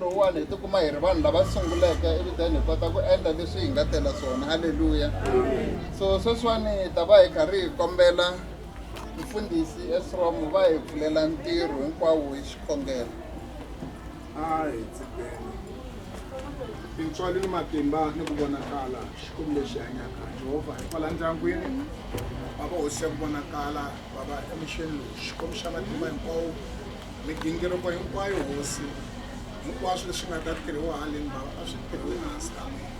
lowuwani hi tikuma hi ri vanhu lava sunguleke eviteni hi kota ku endla leswi hi nga tela swona halleluya so sweswiwani hi ta va hi karhi hi kombela mfundhisi esrom va hi pfulela ntirho hinkwawo hi xikhongelo a hi tsikeni tintswali ni matimba ni ku vonakala xikwembu lexi hanyaka jehovha hi kwala ndyangwini va va hosi ya ku vonakala Bava emucheni lowu, Xikwembu xa matimba hinkwawo, migingiriko hinkwayo, Hosi, hinkwaswo leswi nga ta tirhiwa haleni, Bava, a swi tirhiwe ehansi ka mina.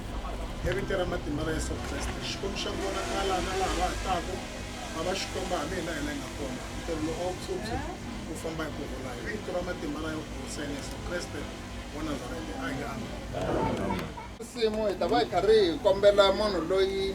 Evitweni ra matimba ra Yesu Kreste, Xikwembu xa ku vonakala na laha va ha taku, Bava, Xikwembu, hambi hina hi la hi nga kona, ntirho lowu a wu phyuphy wu famba hi ku rhula. Hi vito ra matimba ra Yehu Hoseni Yesu Kreste wa Nazarete, a hi ameni. Nsimu, hi ta va hi karhi hi kombela munhu loyi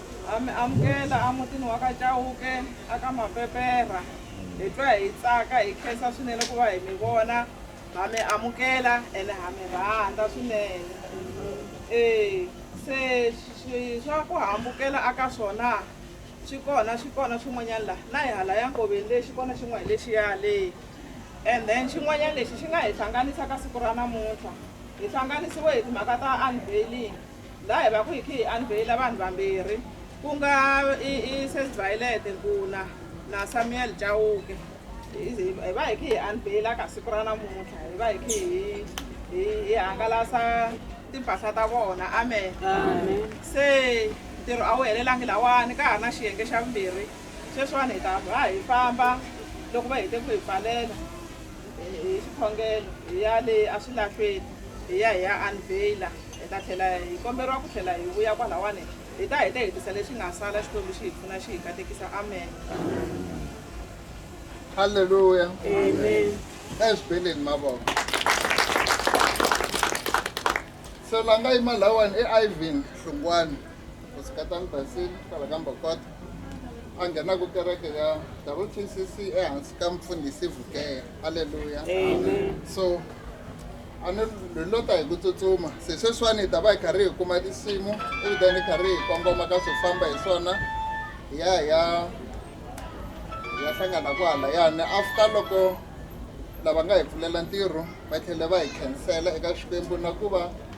Ha mi amukela emutini wa ka Chauke a ka Mapepera. Hi twa hi tsaka, hi khensa swinene ku va hi mi vona. Ha mi amukela ene ha mi rhandza swinene. E, se swi swa ku hambukela a ka swona swi kona, swi kona swin'wanyana la na hi halaya nkoveni le xi kona xin'we hi lexiya le. And then xin'wanyana lexi xi nga hi hlanganisa ka siku ra namuntlha hi hlanganisiwe hi timhaka ta unveiling. Laha hi va ku hi khi hi anvheyila vanhu vambirhi ku nga Ss Violet Nkuna na Samuel Chauke hi va hi khi hi anvheyila ka siku ra namuntlha hi va hi khi hi hi hangalasa timpahla ta vona amen se ntirho a wu helelangi lawani ka ha ri na xiyenge xa vumbirhi sweswiwani hi ta va hi famba loko va hete ku hi pfalela hi swikhongelo hi ya le eswilahlweni hi ya hi ya unveiler hi ta tlhela hi komberiwa ku tlhela hi vuya kwalawani hi ta hi ta hetisa lexi nga sala xikwembu xi hi pfuna xi hi katekisa amen halleluya amen eswibeleni mavoko se la nga yima lawani i ivan hlungwani kusikatani basini kwala ka mbokota a nghenaka kereke ya WTCC ehansi ka mfundhisi Vukeya aleluya so a ni hi lo ta hi ku tsutsuma se sweswiwani hi ta va hi karhi hi kuma tinsimu ivi then hi karhi hi kongoma ka swo famba hi swona hi ya hi ya hi ya hlangana kwahalayani after loko lava nga hi pfulela ntirho va tlhela va hi khensela eka xikwembu na ku va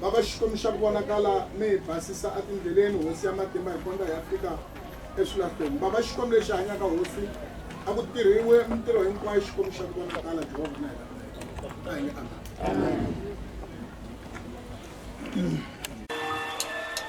Va va Xikwembu xa ku vonakala mi hi basisa atindleleni hosi ya matimba hi kondza hi ya fika eswilahlweni. Va va Xikwembu lexi hanyaka hosi a ku tirhiwe mintirho hinkwayo Xikwembu xa ku vonakala Jehovha na hina. A hi nge amen. Amen.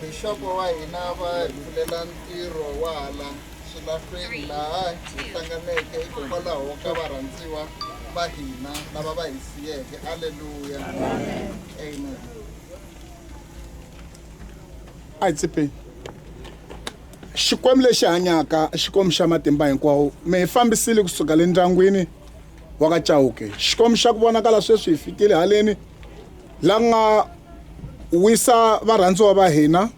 Bixopo wa hina va hi pfulela ntirho wa hala swilahlweni laha hi hlanganeke hikokwalaho ka varhandziwa va hina lava va hi siyeke. Aleluya! Amen. a hi tsipeni xikwembu lexi hanyaka xikwembu xa matimba hinkwawo mi hi fambisile kusuka le ndyangwini wa ka chauke xikwembu xa ku vonakala sweswi hi fikile haleni la nga wisa varhandziwa va hina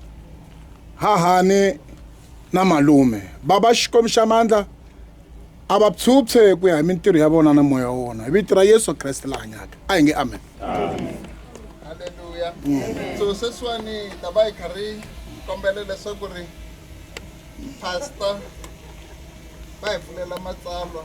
hahani na malume baba xikwembu xa mandla a va phyuphyhe ku ya hi mintirho ya vona na moya wa wona hi vito ra yesu kreste la hanyaka a hi nge amen halleluya so sweswiwani ta va hi karhi kombela leswaku ri pastor vai pulela matsalwa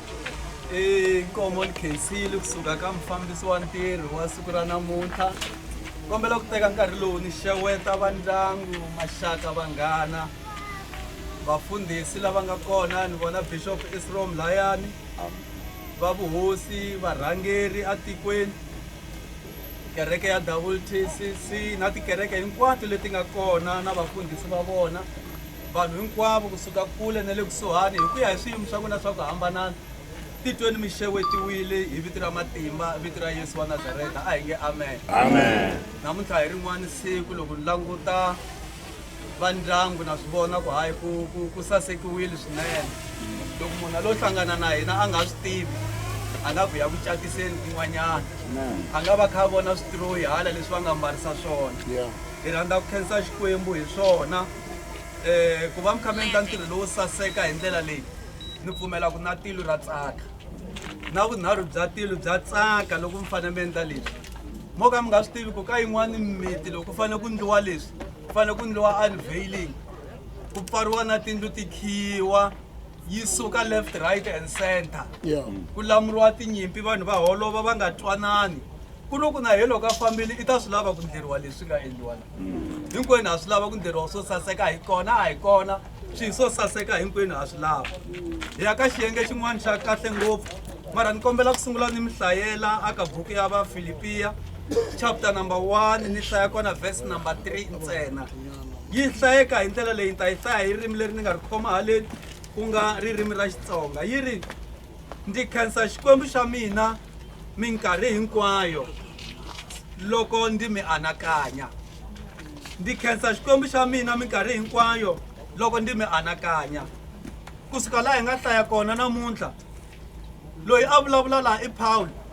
i nkomo ni khensile kusuka ka mufambisi wa ntirho wa siku ra namuntlha kombela ku teka nkarhi lowu ni xeweta va ndyangu maxaka vanghana vafundhisi lava nga kona ni vona bishop isrom layani va vuhosi varhangeri atikweni kereke ya wtcc na tikereke hinkwato leti nga kona na vafundhisi va vona Vanhu hinkwavo ku suka kule na le kusuhani, hi ku ya hi swiyimo swa n'wina swa ku hambanana, titweni mi xewetiwile hi vito ra matimba, vito ra Yesu wa Nazareta. A hi nge amen. Amen. Namuntlha hi rin'wana siku loko ni languta va ndyangu na swi vona ku hayi ku ku ku sasekiwile swinene loko munhu a lo hlangana na hina a nga swi tivi a nga vuya ku catiseni kun'wanyana a nga va kha a vona switroyi hala leswi va nga mbarisa swona hi rhandza ku khensa xikwembu hi swona um ku va mi kha mi endla ntirho lowo saseka hi ndlela leyi ni pfumela ku na tilo ra tsaka na vunharhu bya tilo bya tsaka loko mi fanele mi endla leswi mo ka mi nga swi tivi ku ka yin'wani mimiti loko ku fanele ku ndliwa leswi ku fanele ku ndliwa unveiling ku pfariwa na tindlu ti khiwa yi suka left right and center ku lamuriwa tinyimpi vanhu va holova va nga twanani Ku loko na yena loko a fambile i ta swi lava ku ndleriwa leswi nga endliwa la hinkwenu ha swi lava ku ndleriwa swo saseka hi kona a hi kona swi swo saseka hinkwenu ha swi lava hi ya ka xiyenge xin'wana xa kahle ngopfu mara ni kombela ku sungula ni mi hlayela a ka buku ya vafilipiya chapter number one ni hlaya kona verse number three ntsena yi hlayeka hi ndlela leyi ni ta yi hlaya hi ririmi leri ni nga ri khoma haleni ku nga ririmi ra xitsonga yi ri Ndzi khensa Xikwembu xa mina minkarhi hinkwayo loko ndzi mi anakanya. Ndzi khensa Xikwembu xa mina minkarhi hinkwayo loko ndzi mi anakanya. Ku suka laha hi nga hlaya kona namuntlha, loyi a vulavula laha i Pawulo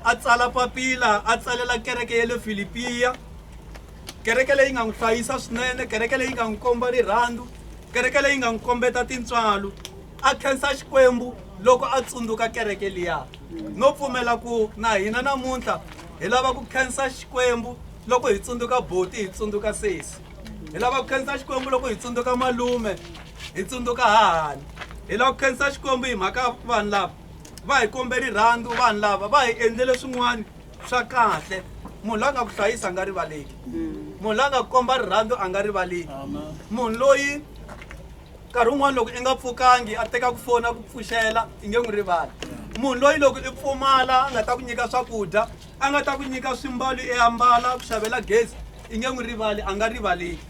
a tsala papila a tsalela kereke ya le Filipiya, kereke leyi nga n'wi hlayisa swinene, kereke leyi nga n'wi komba rirhandzu, kereke leyi nga n'wi kombeta tintswalo. a khensa Xikwembu loko a tsundzuka kereke liya no pfumela ku na hina namuntlha hi lava ku khensa Xikwembu loko hi tsundzuka boti hi tsundzuka sesi hi lava ku khensa Xikwembu loko hi tsundzuka malume hi tsundzuka hahani hi lava ku khensa Xikwembu hi mhaka vanhu lava va hi kombe rirhandzu vanhu lava va hi endlele swin'wana swa kahle munhu la nga ku hlayisa a nga rivaleki munhu la nga ku komba rirhandzu a nga rivaleki munhu loyi nkarhi wun'wana loko i nga pfukangi a teka ku fona ku pfuxela i nge n'wi rivali munhu loyi loko i pfumala a nga ta ku nyika swakudya a nga ta ku nyika swimbalo i ambala ku xavela gezi i nge n'wi rivali a nga rivaleki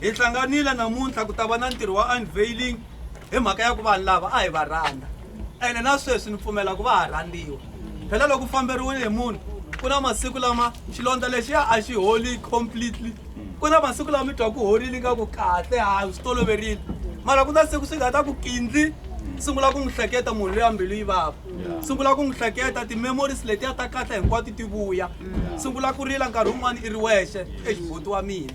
hi hlanganile namuntlha ku ta va na ntirho wa unveiling hi mhaka ya ku vanhu lava a hi va rhandza ene na sweswi ni pfumela ku va ha rhandziwa phela loko u famberiwile hi munhu ku na masiku lama xilondza lexiya a xi holi completely ku na masiku lawa mi twa ku horile ingaku kahle ha swi toloverile mara ku na siku swi nga ta ku kindzi sungula ku n'wi hleketa munhu loyi a mbilu yi vava sungula ku n'wi hleketa ti-memories letiya ta kahle hinkwato ti vuya sungula ku rila nkarhi wun'wana i ri wexe exiboti wa mina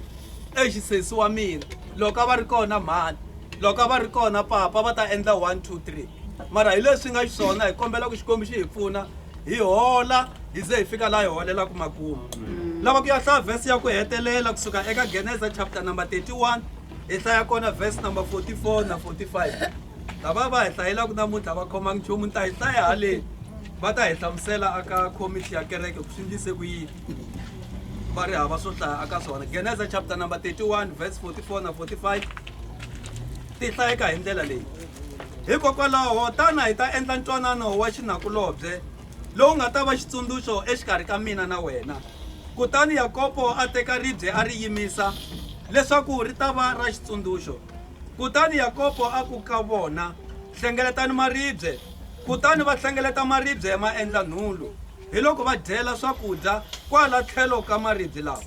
exisesi wa mina loko a va ri kona mhani loko a va ri kona papa va ta endla one two three mara hi leswi nga xiswona hi kombela ku xikwembu xi hi pfuna hi hola hi ze hi fika laha hi holelaka makumu mm. lava ku ya hlaya vhesi ya ku hetelela kusuka eka geneza chapter number 31 hi hlaya kona vhesi number 44 na 45 lava va hi hlayelaka namuntlha va khomangi nchumu ni ta hi hlaya haleni va ta hi hlamusela aka khomixi ya kereke ku swi ndlise ku yini va ri hava swo hlaya aka swona geneza chapter number 31 vhesi 44 na 45 ti hlayeka hi ndlela leyi Hikokwalaho, tana hi ta endla ntwanano wa xinakulobye lowu nga ta va xitsundzuxo exikarhi ka mina na wena. Kutani Yakobo a teka ribye a ri yimisa, leswaku ri ta va ra xitsundzuxo. Kutani Yakobo a ku ka vona, Hlengeletani maribye. Kutani va hlengeleta maribye ma endla nhulu, hiloko va dyela swakudya kwala tlhelo ka maribye lawa.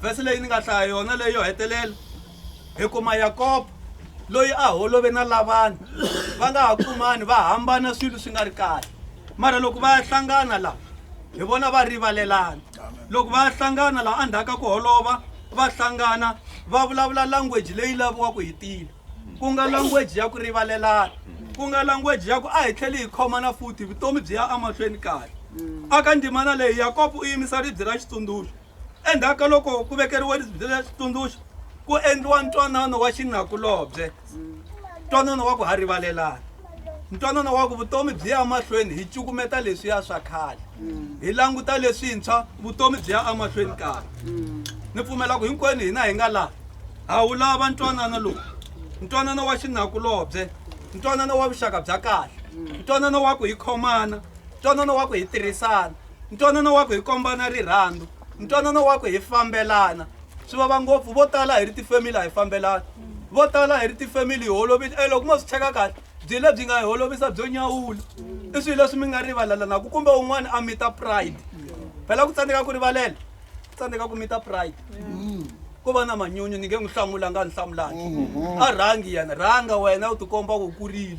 Vhesi leyi ni nga hlaya yona leyi yo hetelela. hi kuma yakobo loyi a holove na lavana va nga ha kumani va hambana swilo swi nga ri kahle mara loko va ya hlangana laha hi vona va rivalelana loko va ya hlangana laha endzhaku ka ku holova va hlangana va vulavula language leyi laviwaka hi tile ku nga language ya ku rivalelana ku nga language ya ku a hi tlheli hi khomana futhi vutomi byi ya emahlweni kahle aka ndzimana leyi yakobo u yimisa ribye ra xitsundzuxo Endzhaku ka loko ku vekeriwe ribye ra xitsundzuxo ku endliwa ntwanano wa xinakulobye ntwanano wa ku ha rivalelana ntwanano wa ku vutomi byi ya mahlweni hi cukumeta leswiya swa khale hi languta leswintshwa vutomi byi ya emahlweni kahle ni pfumela ku hinkwenu hina hi nga laha ha wu lava ntwanano lowu ntwanano wa xinakulobye ntwanano wa vuxaka bya kahle ntwanano wa ku hi khomana ntwanano wa ku hi tirhisana ntwanano wa ku hi kombana rirhandzu ntwanano wa ku hi fambelana swi vava ngopfu vo tala hi ri tifamily a hi fambelana vo tala hi ri tifamily hi holovile e loko mo swi cheka kahle byi lebyi nga hi holovisa byo nyawula i swilo leswi mi nga rivalalanaku kumbe un'wana a mita pride phela ku tsandzeka ku rivalela tsandzeka ku mita pride ko va na manyunyu ni nge n'wi hlamula nga ni hlamulaki a rhangi yena rhanga wena u tikomba ku kurile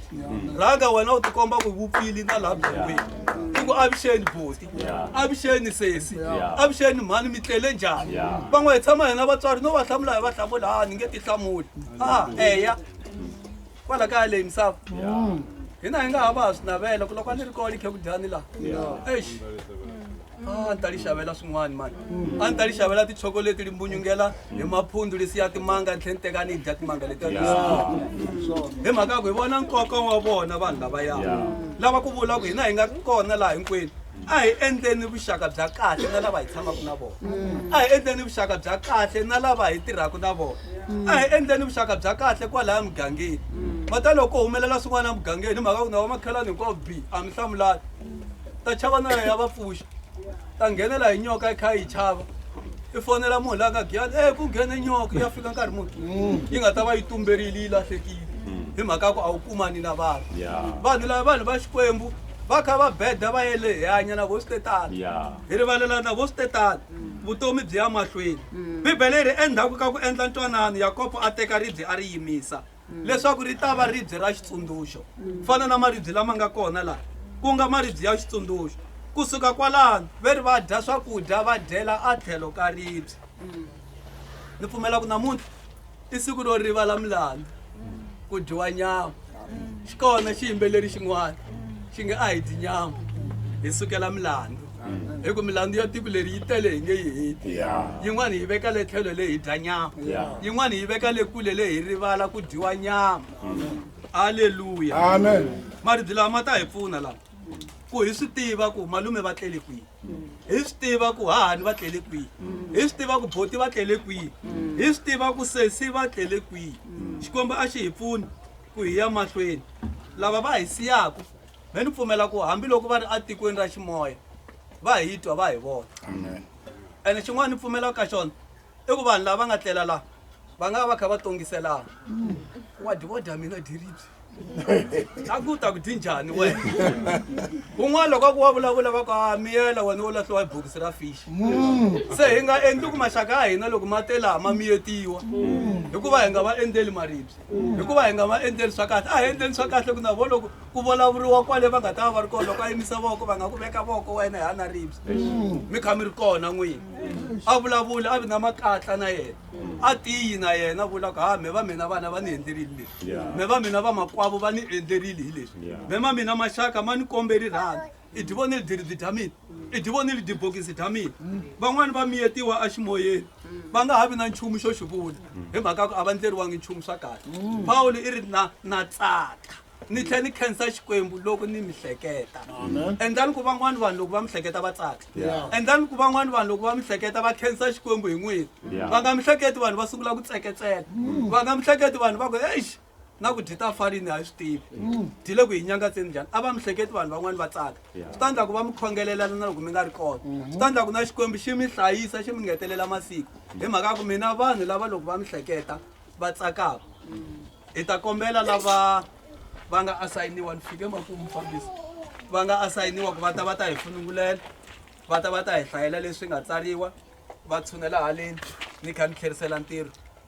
rhanga wena u tikomba ku vupfile na laha byongweni i ku avuxeni boti avuxeni sesi avuxeni mhani mi tlele njhani van'we hi tshama hina vatswari no va hlamula hi va hlamula ha ni nge ti hlamuli a eya kwala kaya leyi misava hina hi nga ha va ha swi navela ku loko a ni ri kona ni khe ku dyani laha eish a ni ta li xavela swin'wana mani a ni ta li xavela tichokoleti li mbunyungela hi maphundzu lisiya timanga ni tlhe ni teka ni dya timanga leti hi mhaka ya ku hi vona nkoka wa vona vanhu lavaya lava ku vula ku hina hi nga kona laha hinkwenu a hi endleni vuxaka bya kahle na lava hi tshamaka na vona mm. a hi endleni vuxaka bya kahle na lava hi tirhaka na vona mm. a hi endleni vuxaka bya kahle kwalaya mugangeni mm. va ta loko humelela swin'wana emugangeni hi mhaka ku na vamakhelani hinkwavo b a mi hlamulani ta chava na ya va pfuxa ta nghenela hi nyoka yi kha yi chava i fonela munhu la nga giyani e ku nghene nyoka ya fika nkarhi muni yi nga ta va yi tumberile yi lahlekile hi mhaka ku a wu kumani na vanhu vanhu lava vanhu va xikwembu va kha va beda va yele hi hanya na vosi tetani Yeah. hi rivalela na vosi tetani vutomi byi ya mahlweni bibele ri endzhaku ka ku endla ntwanano yakobo a teka ribye a ri yimisa leswaku ri ta va ribye ra xitsundzuxo ku fana na maribye lama nga kona laha ku nga maribye ya xitsundzuxo kusuka kwalano ve ri va dya swakudya va dyela a tlhelo ka ribye ni pfumela ku namuntlha i siku ro rivala milandzu ku dyiwa nyama xi kona xiyimbeleri xin'wana xi nge a hi dyi nyama hi sukela milandzu hi ku milandzu ya tiko leri yi tele hi nge yi heti yin'wana hi veka le tlhelo le hi dya nyama yin'wana hi veka le kule le hi rivala ku dyiwa nyama aleluya maribyi lawa ma ta hi pfuna lawa ku hi swi tiva ku malume va tlele kwihi hi swi tiva ku hahani va tlele kwihi hi swi tiva ku boti va tlele kwihi hi swi tiva ku sesi va tlele kwihi xikwembu a xi hi pfuni ku hi ya mahlweni lava va hi siyaku me ni pfumela ku hambiloko va ri etikweni ra ximoya va hi twa va hi vona ene xin'wana ni pfumelaka ka xona i ku vanhu lava va nga tlela laha va nga va va kha va tongiselana wa dyi wo dya mina diribyi a ku ta ku dyi njhani wena kun'wana loko a ku wa vulavula va ku a miyela wena wo lahliwa hi bokisi ra fish se hi nga endli ku maxaka ya hina loko ma te laha ma miyetiwa hikuva hi nga va endzeli maribye hikuva hi nga va endleli swa kahle a hi endleni swa kahle ku na vo loko ku vulavuriwa kwale va nga ta va va ri kona loko a yimisa voko va nga ku veka voko wena hi ana ribye mi kha mi ri kona n'wini a vulavuli a vi na makatla na yena a tiyi na yena vula ku ha me va mina vana va ni endlerile leswi me va mina va makwavo va ni endlerile hi leswi me ma mina maxaka ma ni kombeli rhandi i divonile diridi dya mina i divonile dibokisi dya mina van'wani va miyetiwa eximoyeni va nga ha vi na nchumu xo xi vula hi mhaka ku a va ndleriwangi nchumu swa kahle pawulo i ri na na tsaka ni tlhela ni khensa xikwembu loko ni mi hleketa endlani ku van'wani vanhu loko va mi hleketa va tsaka endlani ku van'wani vanhu loko va mi hleketa va khensa xikwembu hi n'wini va nga mi hleketi vanhu va sungula ku tseketseka va nga mi hleketi vanhu va ku exi na ku dyi ta farini a yi swi tivi dyi le ku hi nyangatseni njhani a va mi hleketi vanhu van'wani va tsaka swi ta endla ku va mi khongelelana na loko mi nga ri kona swi ta endla ku na xikwembu xi mi hlayisa xi mi ngetelela masiku hi mhaka ya ku mina vanhu lava loko va mi hleketa va tsakaka hi ta kombela lava va nga asayiniwa ni fike makumu fambisa va nga asayiniwa ku va ta va ta hi funungulela va ta va ta hi hlayela leswi nga tsariwa va tshunela haleni ni kha ni tlherisela ntirho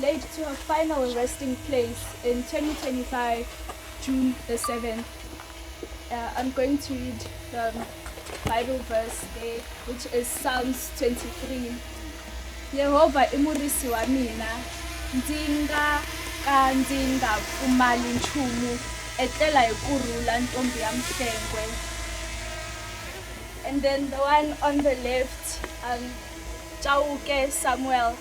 laid to her final resting place in 2025, June the 7th. Uh, I'm going to read the Bible verse there, which is Psalms 23. Yehova i murisi wa mina, ndzi nga ka ndzi nga pfumali nchumu, etlela hi ku rhula ntombi ya mhlengwe. And then the one on the left, um, Chauke Samuel.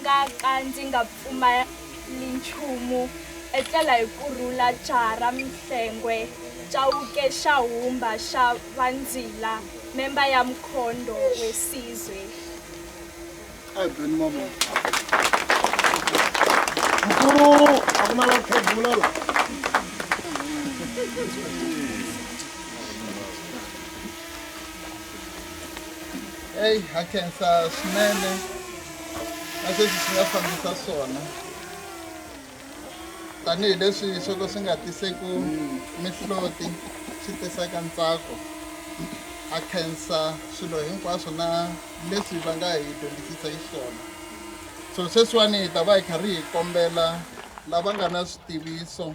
nga ka ndzi nga pfumali nchumu etlela hi ku rhula Jara Mhlengwe, Chauke xa Humba xa Vandzila, memba ya Mkhondo Wesizwe. Mkulu, a ku na la khegula la. eyi ha khensa swinene na sweswi swi nga fambisa swona tanihileswi swo ka swi nga tiseku mihloti swi tisaka ntsako a khensa swilo hinkwaswo na leswi va nga hi dyondzisisa hi swona so sweswiwani hi ta va hi kha ri hi kombela lava nga na switiviso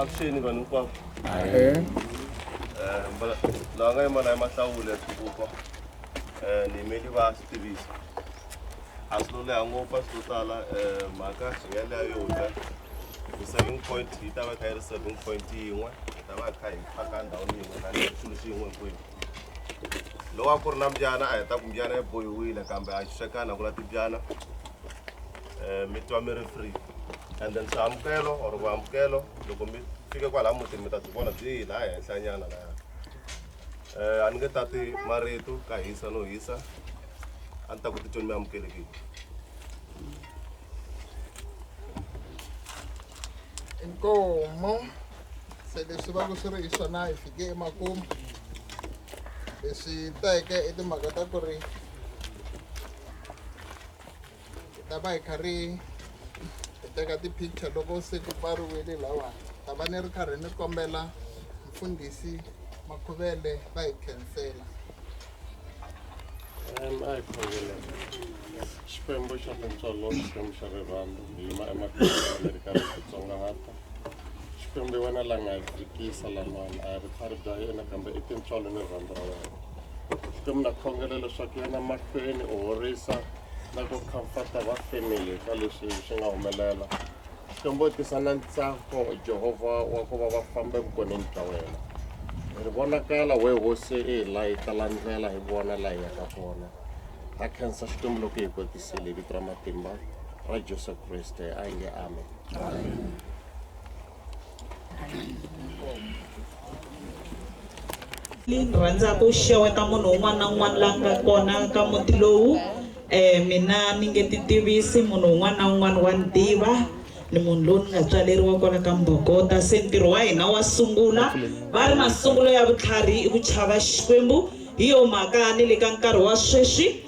avuxeni vanhu hinkwavo eh, laha nga yima laha mahlawula ya swipuko um eh, ni yimeli va swi tivisa a swi lo leha ngopfu a swi lo tala um mhaka hi nga leya yo ta hi-saving point yi ta va kha yi ri saving point yin'we hi ta va kha hi phaka ndhawini yin'we na xilo xi yin'we hinkwenu lowa ku ri na mbyana a hi ta ku mbyana yi bohiwile kambe a yi xuxekana ku la timbyana um mi twa mi ri free and then swihambukelo or vuhambukelo loko mi fike kwalaha mutini mi ta byi vona byi laha henhlanyana laya um a ni nge tati marito ka hisa no hisa a ni ta ku titweni mi amukelekile inkomo se leswi va ku swi ri hi swona hi fike emakumu leswi teke i timhaka ta ku ri hi ta va hi kha ri hi teka ti-picture loko se ti pfariwile lawani ta va ni ri karhi ni kombela mfundhisi makhuvele va hi khensela Um, a hi khongele xikwembu xa tintswalo xikwembu xa rirhandzu hi yima emahlweni mi ri karhi hi titsongahata xikwembu hi wena la nga hi fikisa lan'wana a hi ri khari bya yena kambe i tintswalo ni rirhandzu ra wena Xikwembu na khongela leswaku yena mahlweni u horisa na ku comforta va family ka leswi swi nga humelela Xikwembu u tisa na ntsako Jehovha wa ku va va famba evukoneni bya wena ri vonakala we hosi i hi layita la ndlela hi vona la hi yaka kona ha khensa Xikwembu loko hi kotisile hi vito ra matimba ra Jesu Kriste a yi nge amen ni rhandzaka ku xeweta munhu un'wana na un'wana la nga kona ka muti lowu um mina ni nge ti tivisi munhu un'wana na un'wana wa ni tiva ni munhu lowu ni nga tswaleriwa kwala ka mbogota se ntirho wa hina wa sungula va ri masungulo ya vutlhari i ku chava xikwembu hi yo mhaka ni le ka nkarhi wa sweswi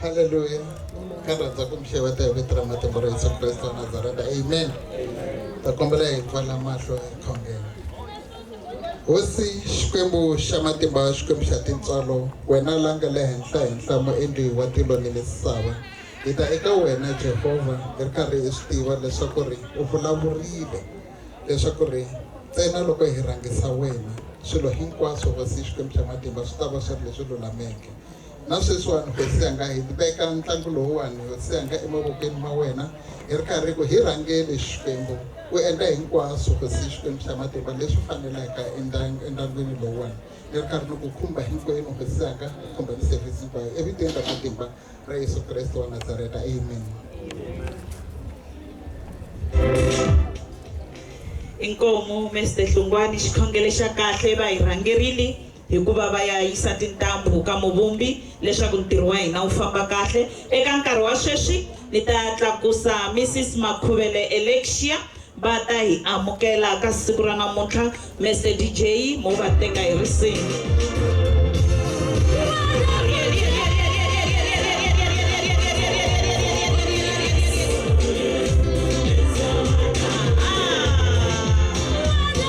Haleluya. Ka rhandza ku mi xeweta hi vito ra matimba ra Yesu Kriste wa Nazareta. Amen. Ta kombela hi pfala mahlo ekhongeni. Hosi Xikwembu xa matimba Xikwembu xa tintswalo wena la nga le henhla henhla muendli wa tilo ni misava hi ta eka wena Jehovha hi ri karhi hi swi tiva leswaku ri u vulavurile leswaku ri ntsena loko hi rhangisa wena swilo hinkwaswo hosi Xikwembu xa matimba swi ta va swi ri leswi lulameke Na sweswiwani, Hosi Yanga, hi veka ntlangu lowuwani, Hosi Yanga, emavokweni ma wena, hi ri karhi hi ku, hi rhangele Xikwembu, u endla hinkwaswo, Hosi Xikwembu xa matimba, leswi fanelaka endyangwini lowuwani. Ni ri karhi ni ku khumba hinkwenu, Hosi Yanga, ni khumba ni service hinkwayo, evitweni ra matimba ra Yesu Kreste wa Nazareta. Amen. Inkomu Mister Hlungwani, xikhongele xa kahle, va hi rhangerile. hikuva va ya yisa tintambu ka Muvumbi leswaku ntirho wa hina wu famba kahle. Eka nkarhi wa sweswi ni ta tlakusa Missis Makhuvele Alexia va ta hi amukela ka siku ra namuntlha. Mister DJ mo va teka hi risimu.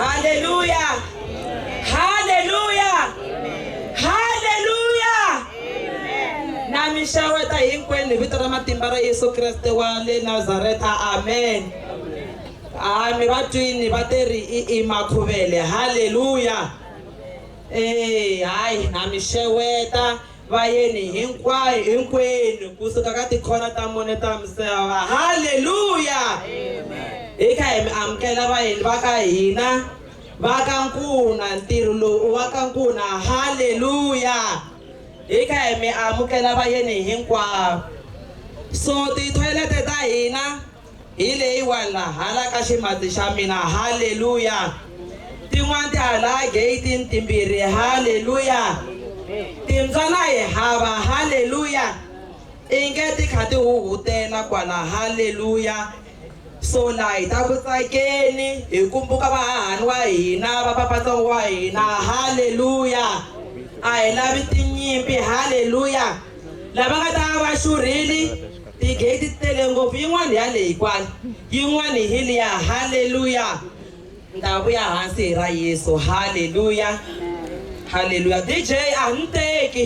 Haleluya! Haleluya! Haleluya! Na mi xeweta hinkwenu hi vito ra matimba ra Yesu Kreste wa le Nazareta. Amen. A mi va twini va te ri i i makhuvele. Haleluya! Eh, hayi na mi xeweta va yeni hinkwayo hinkwenu ku suka ka tikhona ta mune ta misava halleluya hi kha hi mi amukela vayeni va ka hina va ka nkuna ntirho lowu wa ka nkuna halleluya hi kha hi mi amukela vayeni hinkwavo so tithoyilete ta hina Hi leyiwana hala ka ximati xa mina. Haleluya! Tin'wana ti ha laha geyitini timbirhi. Haleluya! Timbyana hi hava. Haleluya! I nge ti kha ti huhutela kwala. Haleluya! So la hi ta ku tsakeni hi kumbuka vahahani wa hina, va papatsongo wa hina. Haleluya! A hi lavi tinyimpi. Haleluya! Lava nga ta va va xurhile, Ti-gay ti tele ngopfu, yin'wana ya leyi kwala, yin'wana hi liya. Haleluya! Ndhawu ya hansi hi ra Yesu. Haleluya! Haleluya! DJ, a ni teki.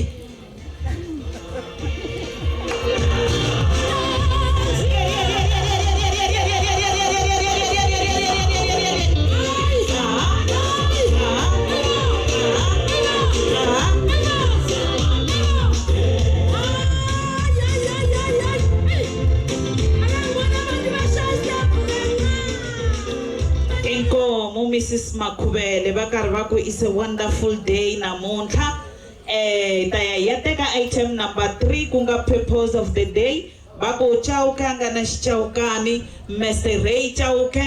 Inkomu Missis Makhuvele va karhi va ku it's a wonderful day namuntlha eh hi ta ya hi ya teka item number three ku nga purpose of the day va ku Chauke a nga na xichawukani Mese Ray Chauke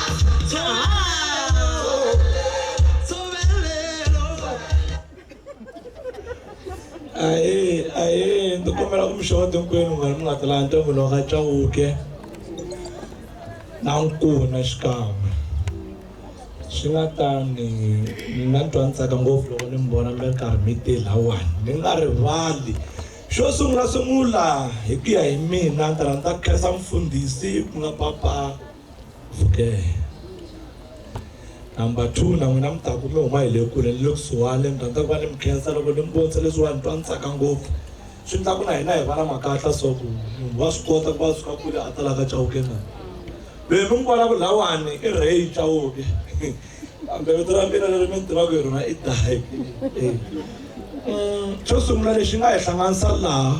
ahee ahee ndzi kombela ku mi xota hinkwenu vanhu mi nga talanga ntombi lowu ka cawuke na nkuna xikan'we swi nga tani ni nga twa ni tsaka ngopfu loko ni mi vona mi ri karhi mi te lawani mi nga rivali xo sungula sungula hi ku ya hi mina ndzi rhandza khensa mfundhisi ku nga papa okay number two na n'wina mi ta ku mi huma hi le kule ni le kusuhani mi rhandza ku va ni mi khensa loko ni mi vonisa leswiwa ni twa ni tsaka ngopfu swi ndla ku na hina hi va na makatla so ku munhu wa swi kota ku va suka kule a ta la ka chauke na loyi mi n'wi vonaka lawani i rey chauke kambe vito ra mina leri mi ni tivaka hi rona i dahi xo sungula lexi nga hi hlanganisa laha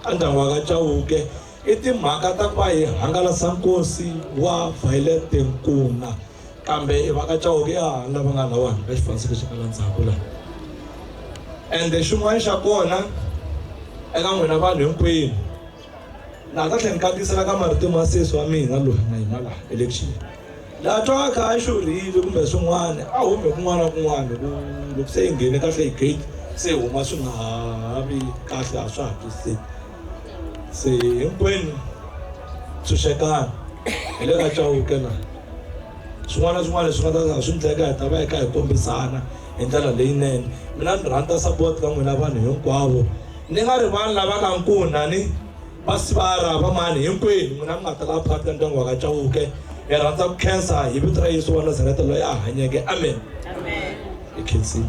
ka ndyangu wa ka chauke I timhaka ta kwa hi hangalasa nkosi wa Violet Nkuna kambe i vaka Chauke ya lava nga lawani ka xifaniso lexi nga la ndzhaku laha ende xin'wana xa kona eka n'wina vanhu hinkwenu laha ka tlhela ni kandziyisela ka marito ma sesi wa mina loyi na hina laha election laha twaka a xurhile kumbe swin'wana a hume kun'wana na kun'wana loko loko se yi nghene kahle hi gate se huma swi nga ha vi kahle a swa ha twisiseki se hinkwenu tshunxekani hi le ka Chauke la swin'wana na swin'wana leswi nga ta swi ndleka hi ta va hi kha hi kombisana hi ndlela leyinene mina ni rhandza support ka n'wina vanhu hinkwavo ni nga ri vanhu lava ka nkuna ni va sivara va mani hinkwenu n'wina mi nga ta lava phakathi ka ndyangu wa ka Chauke hi rhandza ku khensa hi vito ra Yesu wa Nazareta loyi a hanyeke amen hi khensile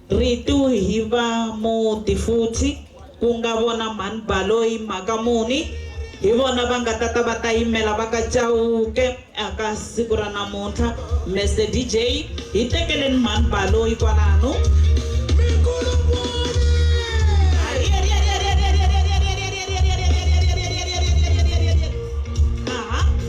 Ritu hi va muti futhi, ku nga vona mhani Baloyi, mhaka muni, hi vona va nga ta ta va ta yimela va ka Chauke aka siku ra namuntlha. Mese DJ, hi tekeleni mhani Baloyi kwalano.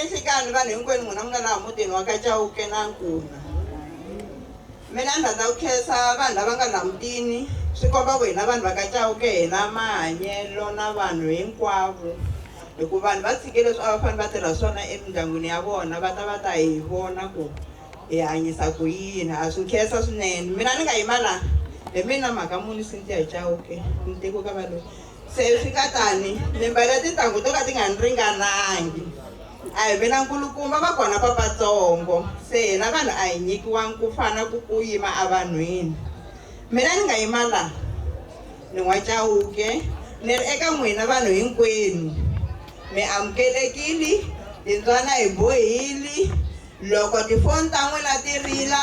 Enhlikani, vanhu hinkwenu n'wina mi nga laha mutini wa ka Chauke na Nkuna, mina ni rhandza ku khensa vanhu lava nga laha mutini, swi komba ku hina vanhu va ka Chauke hi na mahanyelo na vanhu hinkwavo hi ku vanhu va tshike leswi a va fanele va tirha swona emindyangwini ya vona va ta va ta hi vona ku hi hanyisa ku yini, ha swi khensa swinene. Mina ni nga yima laha hi mina Mhaka Mune Cynthia Chauke ni tekiwe ka Valoyi. Se swi nga tani, mi mbale tintangu to ka ti nga ni ringanangi. A hi mina nkulukumba, va kona vatsongo, se hina vanhu a hi nyikiwangi ku fana ku ku yima evanhwini. Mina ni nga yima la, ni n'wa Chauke, ni ri eka n'wina vanhu hinkwenu, mi amukelekili, timbyana hi bohili, loko tifoni ta n'wina ti rila,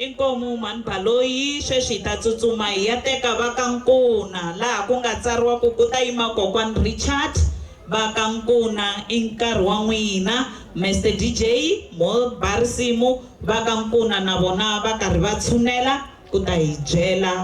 Inkomu mhani Baloyi sweswi hi ta tsutsuma hi ya teka va ka Nkuna laha ku nga tsariwa ku ku ta yima kokwani Richard va ka Nkuna i nkarhi wa n'wina Mester DJ mo ba risimu va ka Nkuna na vona va karhi va tshunela ku ta hi byela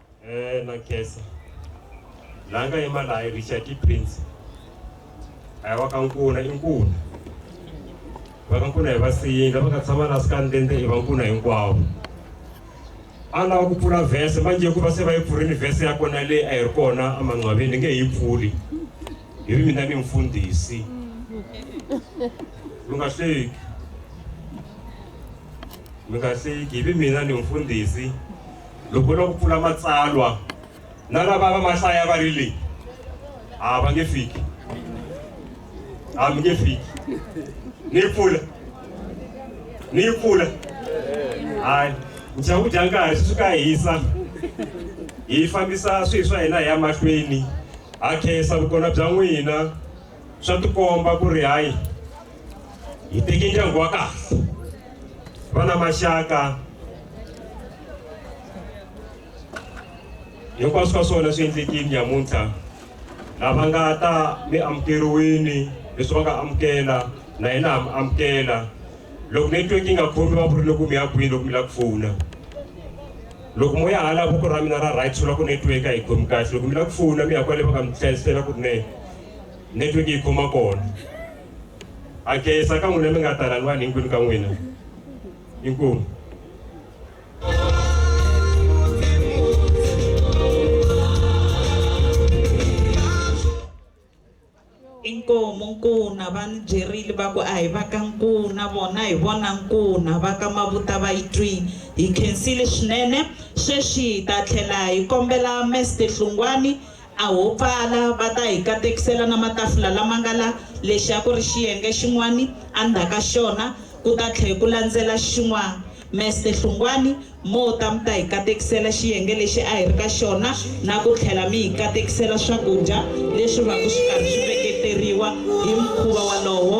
eh na kesa la nga yima laha richard i prince a wa ka nkuna i nkuna va ka nkuna hi va siyindla va nga tshama na sikandende i va nkuna hinkwavo a lava ku pfula vhese manje hikuva se va yi pfurile vhese ya kona leyi a yi ri kona emanqwaveni ni nge yi pfuli hi ri mina ni mfundhisi lu nga hleki mi nga hleki hi vi mina ni mfundhisi Loko u lava ku pfula matsalwa na lava va mahlaya va ri leyi a va nge fiki a mi nge fiki ni yi pfula ni yi pfula hayi nxaku dya nkarhi swi suka hisa hi fambisa swilo swa hina hi ya mahlweni ha khensa vukona bya n'wina swa tikomba ku ri hayi hi teke ndyangu wa kahle va na maxaka hinkwaswo ka swona swi endlekile nyamuntlha lava nga ta mi amukeriwini leswi va nga amukela na yena ha mi amukela loko network yi nga khomi va vurile ku mi ya kwini loko mi lava ku fona loko mo ya hala voko ra mina ra right swi la ku network a yi khomi kahle loko mi lava ku fona mi ya kwale va nga mi hlayisela ku ri ne network yi khoma kona Akesa ka n'wina mi nga ta rhangiwani hinkwenu ka n'wina. Inkomu. Inkomu nkuna va ni byerile va ku a hi va ka nkuna vona hi vona nkuna va ka mavuta va yi twini hi khensile swinene sweswi hi ta tlhela hi kombela meste hlungwani A ho pfala, va ta hi katekisela na matafula lama nga la. Lexi a ku ri xiyenge xin'wani, endzhaka xona ku ta tlhe ku landzela xin'wana. Meste Hlungwani, mo ta mi ta hi katekisela xiyenge lexi a hi ri ka xona na ku tlhela mi hi katekisela swakudya leswi vaka swi karhi swi veketeriwa hi mukhuva wolowo.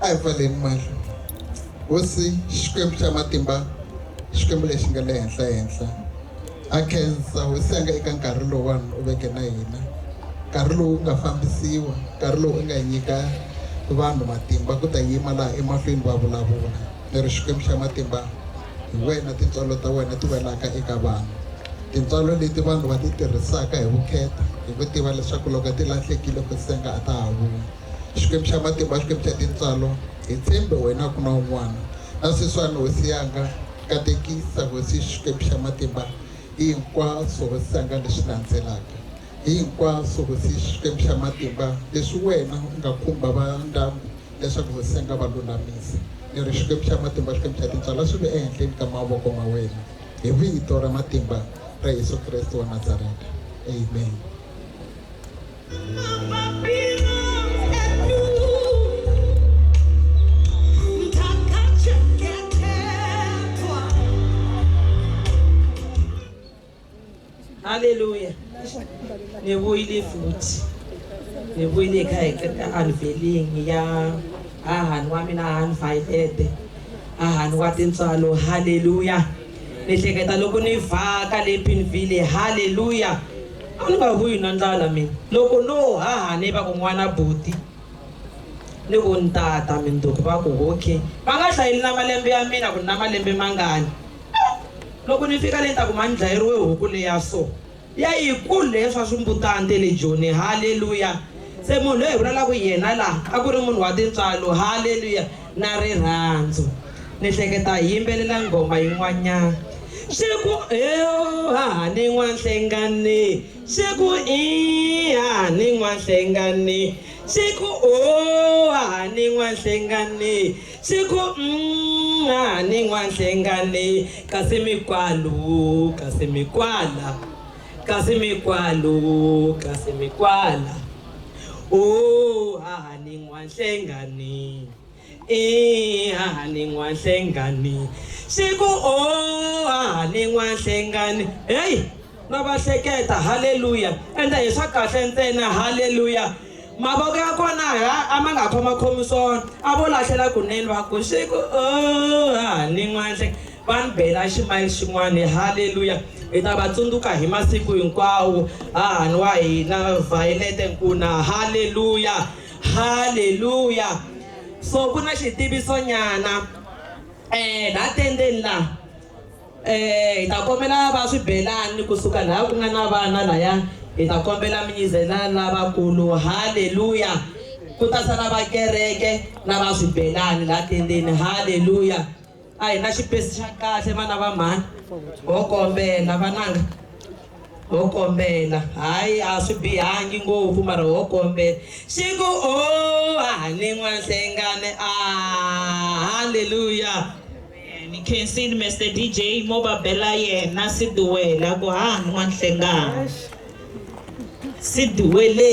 a hi pfaleni mahlo hosi xikwembu xa matimba xikwembu lexi nga le henhla henhla a khensa hosi ya nga eka nkarhi lowani u veke na hina nkarhi lowu nga fambisiwa nkarhi lowu u nga nyika vanhu matimba ku ta yima laha emahlweni va vulavula ni ri xikwembu xa matimba hi wena tintswalo ta wena ti welaka eka vanhu tintswalo leti vanhu va ti tirhisaka hi vukheta hi ku tiva leswaku loko ti lahlekile ku senga a ta ha vuyi Xikwembu xa matimba, Xikwembu xa tintswalo, hi tshembe wena ku na un'wana. Na sweswiwani, Hosi yanga, katekisa, Hosi Xikwembu xa matimba, hi hinkwaswo, Hosi yanga, leswi landzelaka. Hi hinkwaswo, Hosi Xikwembu xa matimba, leswi wena u nga khumba va ndyangu leswaku Hosi yanga va lulamisa. Ni ri, Xikwembu xa matimba, Xikwembu xa tintswalo, swi ve ehenhleni ka mavoko ma wena, hi vito ra matimba ra Yesu Kreste wa Nazareta. Amen. haleluya ni vuyile futhi ni vuyile ka eanivelini ya hahani wa mina hahani vayilete hahani wa tintswalo haleluya ni hleketa loko ni vhaka le pinville haleluya A ni nga vuyi na ndlala mina. Loko no haha ni va ku n'wana buti ni ku ntata Minduku va ku ok va nga hlayeli na malembe ya mina ku ni na malembe mangani loko ni fika le ni ta ku ma ni dlayeriwe huku le ya so ya yi kulu leya swa swimbutana te le Joni haleluya se munhu loyi hi vulalaka hi yena laha a ku ri munhu wa tintswalo haleluya. na rirhandzu ni hleketa hi yimbelela nghoma yin'wanyana swi ku haha ni n'wanhlengani swi ku i haha ni n'wanhlengani swi ku o haha ni n'wanhlengani swi ku mm, haha ni n'wanhlengani kasi mikwalu kasi mikwala kasi mikwalu kasi mikwala Oh hahani n'wanhlengani i hahani n'wanhlengani swi ku oh hahani n'wanhlengani heyi ma va hleketa halleluya ende hi swa kahle ntsena halleluya mavoko ya kona a ma nga khomakhomi swona a vo lahlela kunene va ku swi ku oh hahani n'wanhlengani va ni bela ximayili xin'wana. Haleluya! Hi ta va tsundzuka hi masiku hinkwawo, hahani wa hina Violet Nkuna. Haleluya! Haleluya! So ku na xitiviso nyana eh la tendeni la eh hi ta kombela va swibelani kusuka laha ku nga na vana laya hi ta kombela mi nyizela lavakulu haleluya ku ta sala va kereke na va swibelani la tendeni haleluya A hi na xipesi xa kahle vana va mhani. Ho kombela vananga, ho kombela. Hayi a swi bihangi ngopfu mara ho kombela. Xi ku ooh a ha ni n'wanhlengane aah hallelujah. Ni khensini Mister DJ mo va bela yena Sidiwele a ku ha ni n'wanhlengana Sidiwele.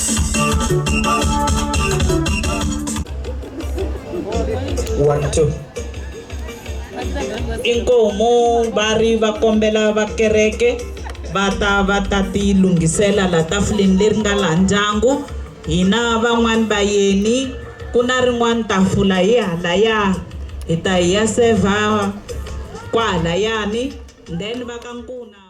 one two inkomu va ri va kombela vakereke va ta va ta tilunghisela la tafuleni leri nga laha ndyangu hina van'wani va yeni ku na rin'wani tafula hi halaya hi ta hi ya seva kwahalayani then va ka nkuna